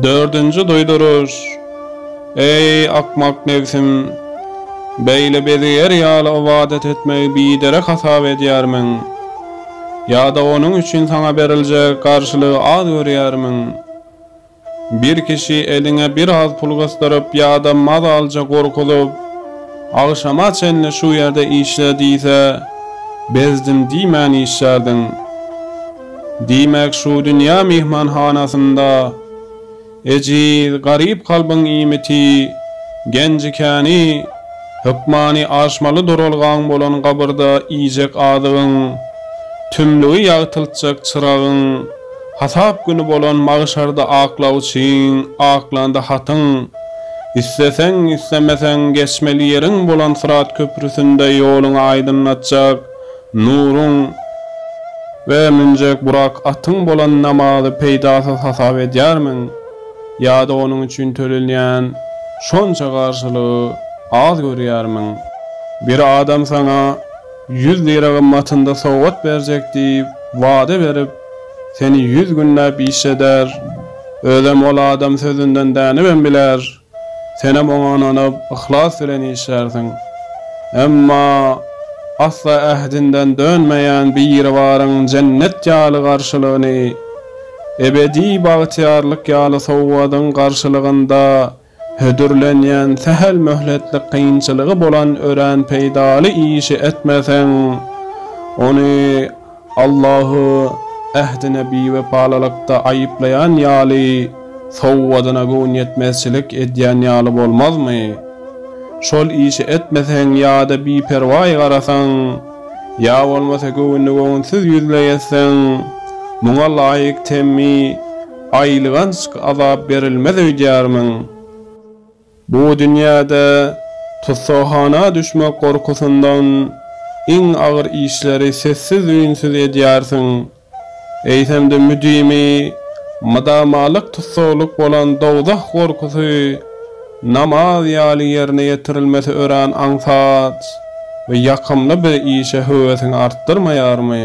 Dördünji duýduryş, Eý, akmak nebsim! Beýle bezigär ýaly ybadat etmegi biderek hasap edýärmiň? Ýa-da onuň üçin saňa beriljek garşylygy az görýärmiň? Bir kişi eliňe biraz pul gysdyryp ýa-da mazalja gorkuzyp, Agşama çenli şu ýerde işle diýse, bezdim diýmän işlärdiň. Diýmek, şu dünýä myhmanhanasynda ejiz, garyp kalbyň iýmiti, genji-käni, hökmany aşmaly duralgaň bolan gabyrda iýjek azygyň, tümlügi ýagtyltjak çyragyň, hasap güni bolan magşarda aklawçyň, aklanda hatyň, isleseň, islemeseň geçmeli ýeriň bolan syrat köprüsinde ýoluňy aýdyňlatjak, Nuruň we münjek Burak atyň bolan namazy peýdasyz hasap edýärmiň? Ýa-da onuň üçin tölenýän şonça garşylygy az görýärmiň? Bir adam saňa ýüz lira gymmatynda sowgat berjek diýip wada berip, seni ýüz günläp işjeder, özem ol adam sözünden dänibem biler. Senem oňa ynanyp, yhlas bilen işlärsiň. Emma asla ähdinden dönmeýän Biribaryň jennet ýaly garşylygyny, ebedi bagtyýarlyk ýaly sowgadyň garşylygynda hödürlenýän sähel möhletlik kynçylygy bolan örän peýdaly işi etmeseň, ony Allahy ähdine biwepalylykda aýyplaýan ýaly, sowgadyna göwnýetmezçilik edýän ýaly bolmazmy? Şol işi etmeseň ýa-da biperwaý garasaň, ýa bolmasa göwünli-göwünsiz ýüzleýässeň, muňa laýyk temmi, aýylganç azap berilmez öýdýärmiň? Bu dünýäde tussaghana düşmek gorkusyndan iň agyr işleri sessiz-üýnsüz edýärsiň. Eýsem-de müdimi, mydamalyk tussaglyk bolan dowzah gorkusy namaz ýaly ýerine ýetirilmesi örän aňsat we ýakymly bir işe höwesiňi artdyrmaýarmy?